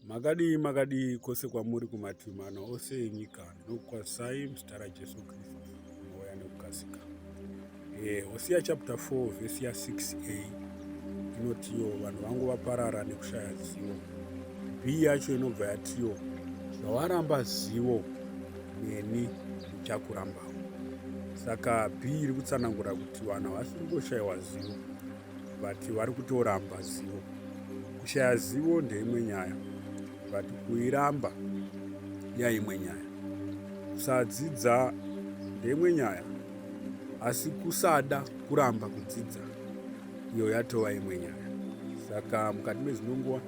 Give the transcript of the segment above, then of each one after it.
Makadii makadii kose kwamuri kumativi mana ose enyika nokukwazisai muzita raJesu Kristu mouya nekukasika. Eh, Hosiya chapter 4 vhesi ya 6a inotiyo vanhu vangu vaparara nekushaya zivo. B yacho inobva yatiyo zvawaramba zivo neni ndichakurambawo. Saka B iri kutsanangura kuti vanhu havasi kungoshayiwa zivo but vari kutoramba zivo kushaya zivo ndeimwe nyaya but kuiramba yaimwe nyaya kusadzidza ndeimwe nyaya asi kusada kuramba kudzidza iyo yatova imwe nyaya saka mukati mezvino nguva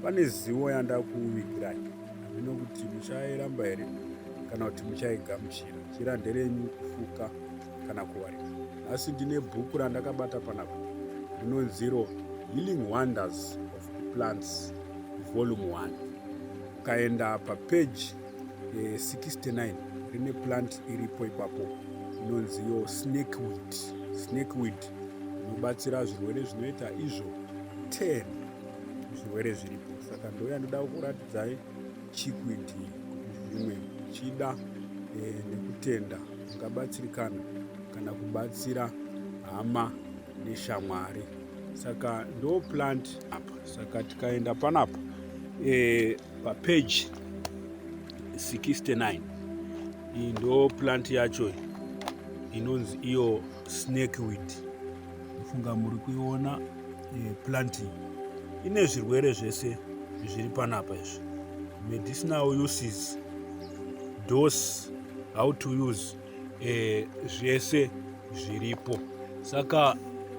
pane zivo yanda kuvigirai handino kuti muchairamba here kana kuti muchaigamuchira chira nderenyu kufuka kana kuwari nhasi ndine bhuku randakabata panapa rinonziro healing wonders of plants volume 1 ukaenda papeji 69 eh, rine plant iripo ipapo inonziyo snake wit snake wit inobatsira zvirwere zvinoita izvo 10 zvirwere zviripo saka ndoya ndoda kuratidzai chikwidhi zvimwe uchida eh, nekutenda ungabatsirikana kana kubatsira hama neshamwari saka ndo plant apa saka tikaenda panapa e, eh, papage 69 iyi ndo plant yacho inonzi iyo snakeweed Funga muri kuiona eh, planting ine zvirwere zvese zviri panapa izvi medicinal uses dose how to use eh, zvese zviripo saka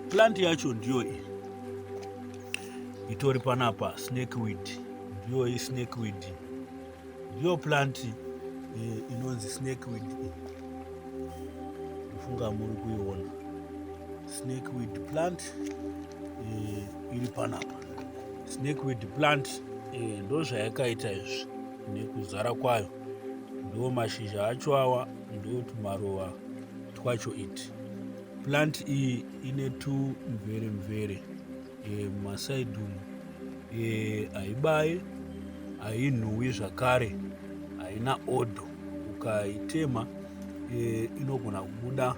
plant yacho ndiyo iyi itori panapa snakeweed ndiyo iyi snakeweed Ndiyo plant eh, inonzi snakeweed iyi. Kufunga muri kuiona snakeweed plant eh, iri panapa. Snakeweed plant eh, ndozvayakaita izvi nekuzara kwayo. Ndo mashizha acho awa ndo tumaruva twacho iti. Plant iyi ine tumvere mvere. e, mumasaidi umu e, haibaye hainhuwi zvakare haina odho ukaitema e, inogona kubuda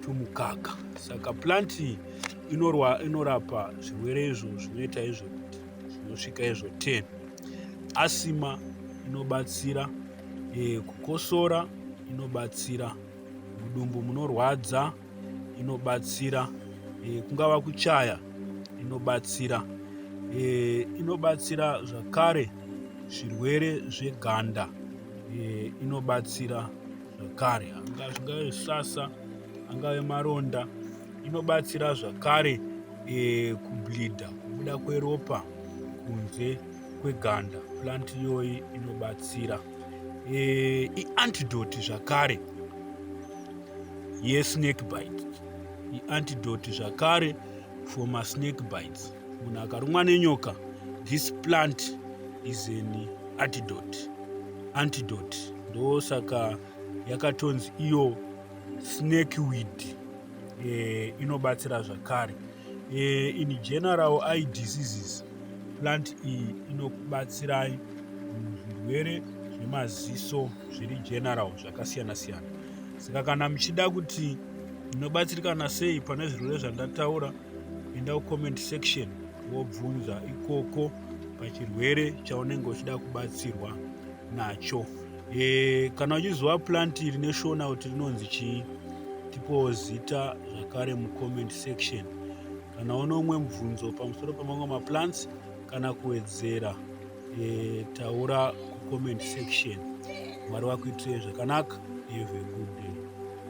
tumukaka saka plant iyi inorwa inorapa zvirwere izvo zvinoita izvo kuti zvinosvika izvo 10 asima inobatsira e, kukosora inobatsira mudumbu munorwadza inobatsira e, kungava kuchaya inobatsira e, inobatsira zvakare zvirwere zveganda e, inobatsira zvakare zvingave sasa angave maronda inobatsira zvakare e, kublida kubuda kweropa kunze kweganda plant iyoyi inobatsira e, iantidoti zvakare yesnake bite iantidoti zvakare for masnake bites munhu akarumwa nenyoka this plant is an antidot antidot ndo saka yakatonzi iyo snake weed e, inobatsira zvakare Eh, in general eye diseases plant iyi inokubatsirai muzvirwere zvemaziso zviri general zvakasiyana siyana saka kana muchida kuti inobatsirikana sei pane zvirwere zvandataura enda kucomment section wobvunza ikoko pachirwere chaunenge uchida kubatsirwa nacho e, kana uchiziva plant iri neshona kuti rinonzi chii tipowo zita zvakare mucomment section kana une umwe mubvunzo pamusoro pamamwe maplants kana kuwedzera e, taura kucomment section mwari vakuitire zvakanaka have a good day